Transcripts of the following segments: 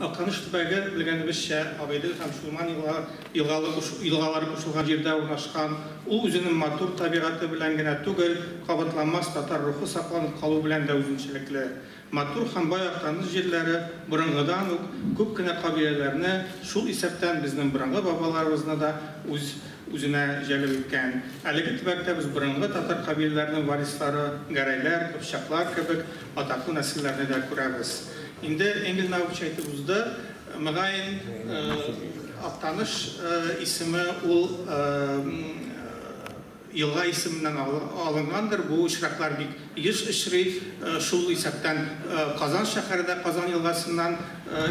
Актаныш төбәге, белгәнебезчә, Агыйдел һәм Чулман елгалары кушылган җирдә урнашкан. Ул үзенең матур табигате белән генә түгел, кабатланмас татар рухы сакланып калу белән дә үзенчәлекле. Матур һәм бай Актаныш җирләре борынгыдан ук күп кенә кабиләләрне, шул исәптән безнең борынгы бабаларыбызны да үз Үзенә җәлеп иткән. Әлеге төбәктә без борынгы татар кабиләләренең варислары, гәрәйләр, кыпчаклар кебек атаклы нәселләрне дә күрәбез. Инде Энгель Наупч әйтеп узды, мөгаен, Актаныш исеме ул елга исеменнән алынгандыр, бу очраклар бик Йөз очрый, шул исәптән Казан шәһәре дә Казан елгасыннан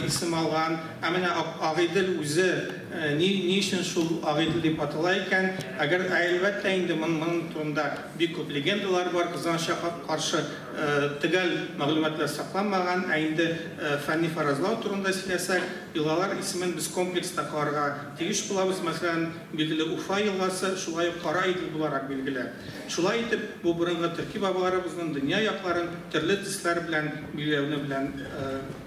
исем алган. Ә менә Агыйдел үзе ни ни өчен шул Агыйдел дип атала икән? Әгәр Ә әлбәттә инде, моның турында бик күп легендалар бар, кызганычка каршы, төгәл мәгълүматлар сакланмаган. Ә инде фәнни фаразлау турында сөйләсәк, елгалар исемен без комплекс та карарга тиеш булабыз. Мәсәлән, билгеле Уфа елгасы шулай ук Кара Идел буларак билгеле. Шулай итеп, бу борынгы төрки бабаларыбызның дөнья якларын төрле дисклар белән билгеләүне белән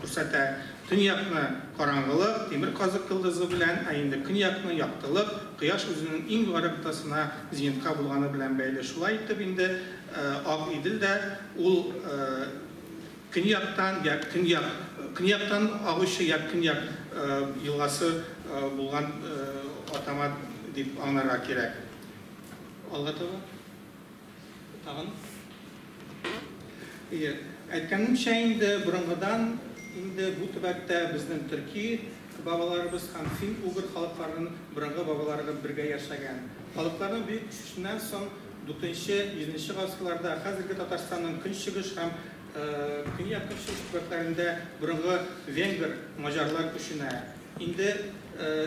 күрсәтә. Төньякны, караңгылык, тимер казык йолдызы белән, ә инде көньякны, яктылык, кояш үзенең иң югары ноктасына, зенитка булганы белән бәйле. Шулай итеп инде Ак Идел дә ул көньяктан я көньяк көньяктан агучы я көньяк елгасы булган атама дип аңларга кирәк. Алга таба. Тагын. Ие. Әйткәнемчә инде, борынгыдан инде бу төбәктә безнең төрки бабаларыбыз һәм фин-угр халыкларының борынгы бабаларыгы бергә яшәгән. Халыкларның бөек күчешеннән соң дүртенче, бишенче гасырларда хәзерге Татарстанның көнчыгыш һәм көньяк-көнчыгыш төбәкләрендә борынгы венгр, маҗарлар күченә. Инде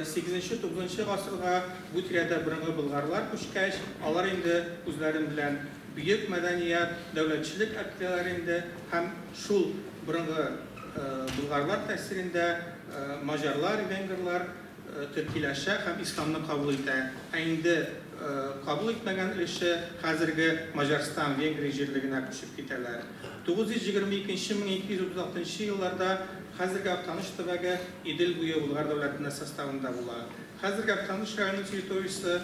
сигезенче, тугызынчы гасырга бу тирәдә борынгы болгарлар күчкәч, алар инде үзләрен белән бөек мәдәният, дәүләтчелек әптеләр инде һәм шул борынгы болгарлар тәэсирендә маҗарлар, венгрлар төркиләшә һәм исламны кабул итә. Ә инде кабул итмәгән өлеше хәзерге Маҗарстан, Венгрия җирлегенә күчеп китәләр. Тугыз йөз егерме икенче, мең ике йөз утыз алтынчы елларда Хәзерге Актаныш төбәге Идел буе Болгар дәүләтенә составында була. Хәзерге Актаныш районы территориясе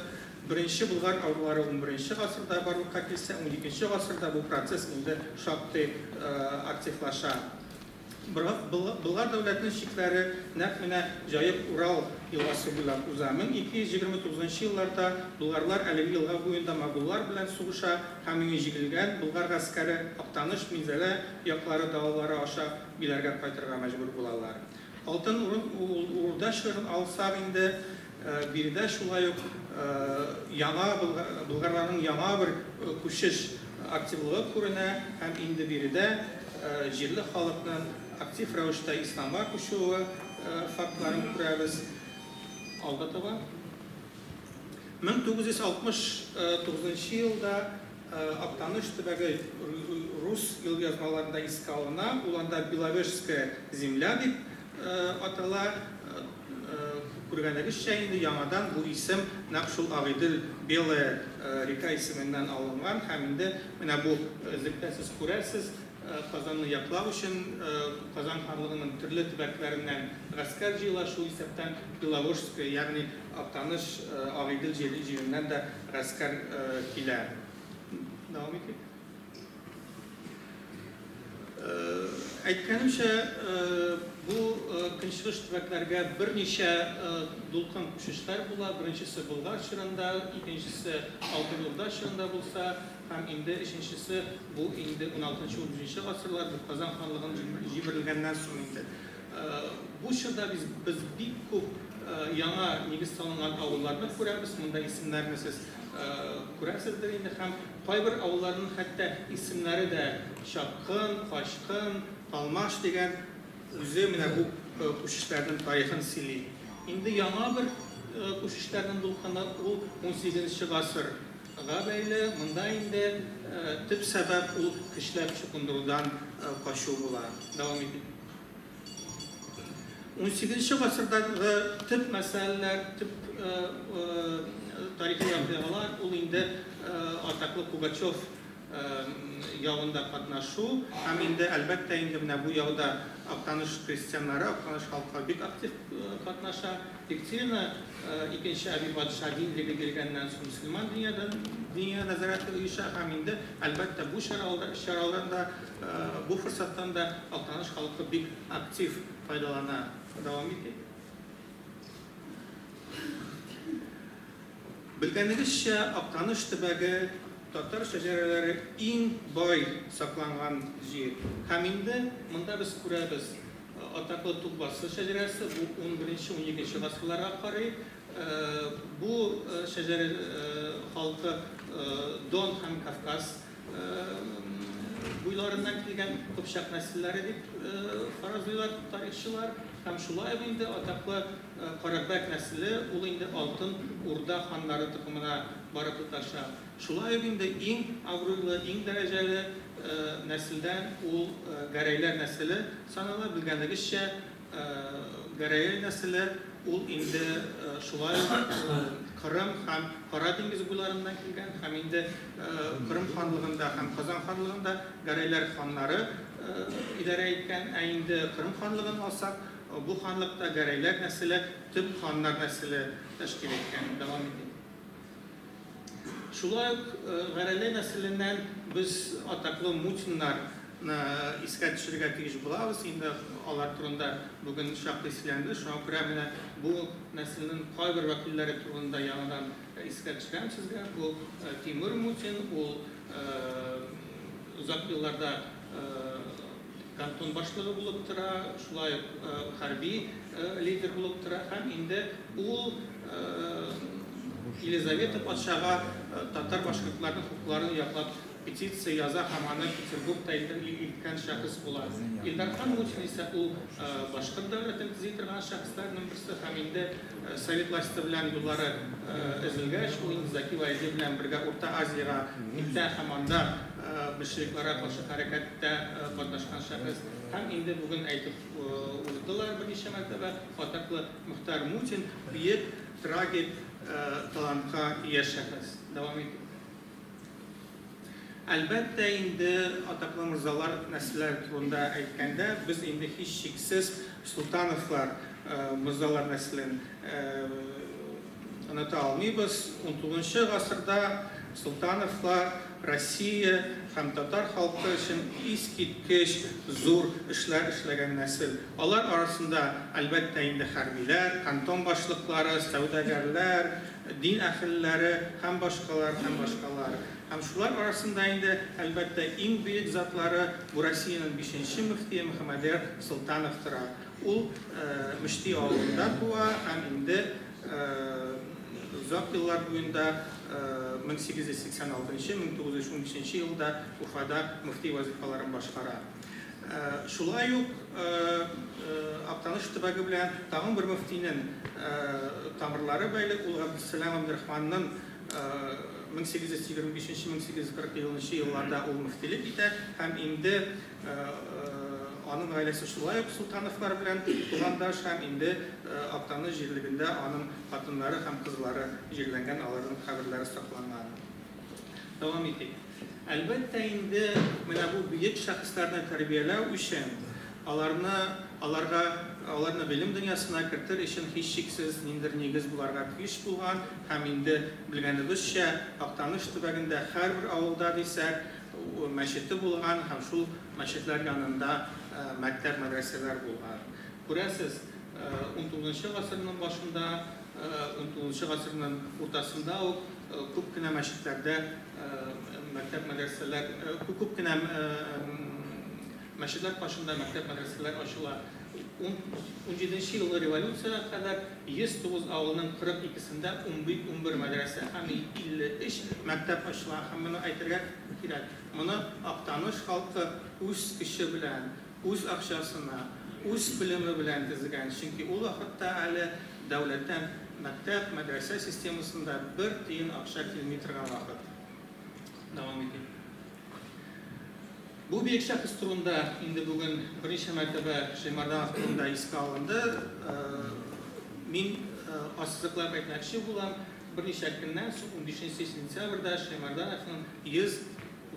Беренче Болгар авыллары унберенче гасырда барлыкка килсә, уникенче гасырда бу процесс инде шактый активлаша. Болгар дәүләтенең чикләре нәкъ менә Җаек Урал елгасы буйлап уза. Мең ике йөз егерме тугызынчы елларда болгарлар әлеге елга буенда моголлар белән сугыша һәм иңе җигелгән Болгар гаскәре Актаныш, Минзәлә яклары далалары аша Биләргә кайтырга мәҗбүр булалар. Алтын Урда чорын алсак инде, биредә шулай ук яңа болгарларның яңа бер күчеш активлыгы күренә һәм инде биредә җирле халыкның актив рәвештә исламга күчүе фактларын күрәбез. Алга таба. 1969 елда Актаныш төбәге рус елъязмаларында искә алына, ул анда Беловежская земля дип атала. Күргәнегезчә инде, яңадан бу исем нәкъ шул Агыйдел Белая река исеменнән алынган һәм инде менә бу эзлектә сез күрәсез, Казанны яклау өчен Казан ханлыгының төрле төбәкләреннән гаскәр җыела, шул исәптән Беловожская, ягъни Актаныш, Агыйдел җиреннән дә Гаскәр килә. Дәвам итик. Әйткәнемчә, бу көнчыгыш төбәкләргә берничә дулкын күчешләр була. Беренчесе Болгар чорында, икенчесе Алтын Урда чорында булса, һәм инде өченчесе бу инде 16-17 гасырлар, бу Казан ханлыгын җимерелгәннән соң инде. Бу чорда без без бик күп яңа нигез салынган авылларны күрәбез, монда исемнәрне сез күрәсездер инде һәм кайбер авылларның хәтта исемнәре дә Чапкын, Качкын, Талмаш дигән үзе менә бу күчешләрнең тарихын сөйли. Инде яңа бер күчешләрнең булканы ул унсигезенче гасыр. Га бәйле, монда инде төп сәбәп ул көчләп чукындырудан качу була. Дәвам итик. Унсигезенче гасырдагы төп мәсьәләләр, төп тарихи вакыйгалар ул инде атаклы Пугачев явында катнашу һәм инде, әлбәттә, инде менә бу яуда Актаныш крестьяннары, Актаныш халкы бик актив катнаша. Екатерина икенче әби патша динлеге биргәннән соң мөселман дөньядан дөнья нәзарәте оеша һәм инде, әлбәттә, бу чаралар чаралардан да, бу форсаттан да Актаныш халкы бик актив файдалана. Дәвам итик. Белгәнегезчә, Актаныш төбәге татар шәҗәрәләре иң бай сакланган җир. Һәм инде монда без күрәбез, атаклы Тукбасы шәҗәрәсе, бу унберенче-уникенче гасырларга карый. Бу шәҗәрә халкы Дон һәм Кавказ Буйларыннан килгән кыпчак нәселләре дип фаразлыйлар тарихчылар. Һәм шулай ук инде атаклы Карабәк нәселе, ул инде Алтын Урда ханнары токымына бары тоташа. Шулай ук инде иң абруйлы, иң дәрәҗәле нәселдән ул Гәрәйләр нәселе санала. Белгәнегезчә, Гәрәел нәселе ул инде шулай ук Кырым һәм Кара диңгез буйларыннан килгән һәм инде Кырым ханлыгында һәм Казан ханлыгында гәрәйләр ханнары идарә иткән, ә инде Кырым ханлыгын алсак, бу ханлыкта гәрәйләр нәселе төп ханнар нәселе тәшкил иткән. Дәвам итик. Шулай ук Гәрәне нәселеннән без атаклы Мутиннарны искә төшерергә тиеш булабыз. Инде алар турында бүген шактый сөйләнде. Шуңа күрә менә бу нәселнең кайбер вәкилләре турында яңадан искә төшерәм сезгә. Бу Тимур Мутин, ул озак елларда Кантон башлыгы булып тора, шулай ук хәрби лидер булып тора һәм инде ул Елизавета патшага татар-башкортларның хокукларын яклап петиция яза һәм аны Петербургта илткән шәхес була. Илдархан Мутин исә ул башкорт дәүләтен төзи торган шәхесләрнең берсе һәм инде Советлашты белән юллары өзелгәч, ул инде Закил Айзы белән бергә Урта Азиягә китә һәм анда большевикларга каршы хәрәкәттә катнашкан шәхес. Һәм инде бүген әйтеп уздылар берничә мәртәбә, атаклы Мөхтәр Мутин, бөек трагик талантка ия шәхес. Дәвам итик. Әлбәттә инде, атаклы морзалар, нәселләр турында әйткәндә, без инде һичшиксез Солтановлар, морзалар нәселен оныта алмыйбыз. Унтугызынчы гасырда Солтановлар Россия һәм татар халкы өчен искиткеч зур эшләр эшләгән нәсел. Алар арасында, әлбәттә инде, хәрбиләр, кантон башлыклары, сәүдәгәрләр, дин әһелләре һәм башкалар, һәм башкалар. Һәм шулар арасында инде, әлбәттә, иң бөек затлары, бу Россиянең бишенче мөфтие Мөхәммәдер Солтанов тора. Ул Мөшти авылында туа һәм инде озак еллар буенда, 1886-1915 елда Уфада мөфти вазыйфаларын башкара. Шулай ук Актаныш төбәге белән тагын бер мөфтинең тамырлары бәйле, ул Габдессәлам Габдерахманның 1825-1840 елынчы елларда ул мөфтилек итә һәм инде аның гаиләсе шулай ук Солтановлар белән тугандаш һәм инде Актаныш җирлегендә аның хатыннары һәм кызлары җирләнгән, аларның каберләре сакланган. Дәвам итик. Әлбәттә инде, менә бу бөек шәхесләрне тәрбияләү өчен, аларны, аларга, аларны гыйлем дөньясына кертер өчен һичшиксез ниндидер нигез буларга тиеш булган һәм инде, белгәнебезчә, Актаныш төбәгендә һәрбер авылда дисәк, мәчете булган һәм шул мәчетләр янында мәктәп-мәдрәсәләр булган. Күрәсез, унтугызынчы гасырның башында, Унтугызынчы гасырның уртасында ук күп кенә мәчетләрдә мәктәп-мәдрәсәләр, күп кенә мәчетләр каршында мәктәп-мәдрәсәләр ачыла. Унҗиденче елгы революциягә кадәр 109 авылның 42-сендә унбер мәдрәсә һәм 53 мәктәп ачыла. Һәм моны әйтергә кирәк, моны Актаныш халкы үз көче белән, Үз акчасына, үз белеме белән тезгән, чөнки ул вакытта әле дәүләттән мәктәп, мәдрәсә системасында бер тиен акча килми торган вакыт. Дәвам итим. Бу биек шәхес турында инде бүген берничә мәртәбә Шәймарданов турында искә алынды. Мин ассызыклап әйтмәкче булам, берничә көннән соң, унбишенче сентябрьдә Шәймардановның 100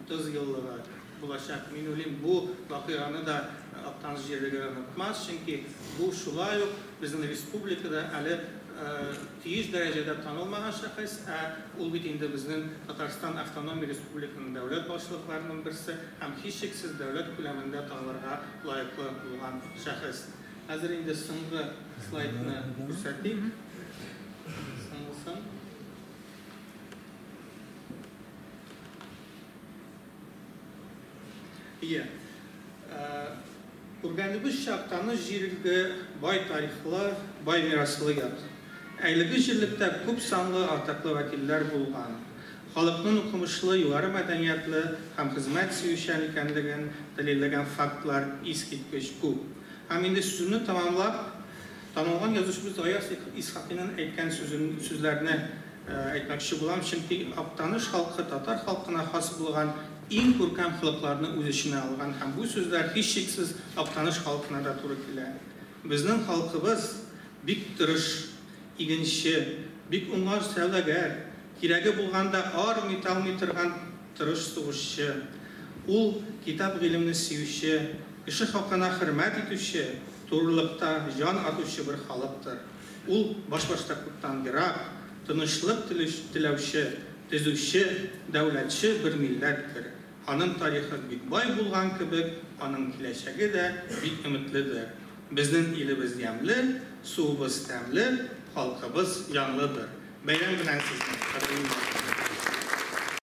30 еллыгы булачак Минулин бу вакыйганы да Актаныш җирлегәре онытмас, чөнки бу шулай ук безнең республикада әле тиеш дәрәҗәдә танылмаган шәхес, ә ул бит инде безнең Татарстан автономия республиканың дәүләт башлыкларының берсе һәм һичшиксез дәүләт күләмендә танылырга лаеклы булган шәхес. Хәзер инде соңгы слайдны күрсәтик. Ие. Күргәнебезчә, Актаныш җирелге бай тарихлы, бай мираслы йорт. Әлеге җирлектә күп санлы атаклы вәкилләр булган. Халыкның укымышлы, югары мәдәниятле һәм хезмәт сөючән икәнлеген дәлилләгән фактлар искиткеч күп. Һәм инде сүземне тәмамлап, Танылган язучыбыз Гаяз Исхакыйның әйткән сүзен, сүзләрне әйтмәкче булам, чөнки Актаныш халкы татар халкына хас булган иң күркәм холыкларны үз эченә алган һәм бу сүзләр һичшиксез Актаныш халкына да туры килә. Безнең халкыбыз бик тырыш, игенче, бик уңган сәүдәгәр, кирәге булганда армый талмый торган тырыш сугышчы. Ул, китап-гыйлемне сөюче, кеше хакына хөрмәт итүче, Турылыкта җан атучы бер халыктыр. Ул башбаштаклыктан ерак, тынычлык теләүче, төзүче, дәүләтче бер милләттер. Аның тарихы бик бай булган кебек, аның киләчәге дә бик өметледер. Безнең илебез ямьле, суыбыз тәмле, халкыбыз җанлыдыр. Бәйрәм белән сезне, кадерле милләттәшләр!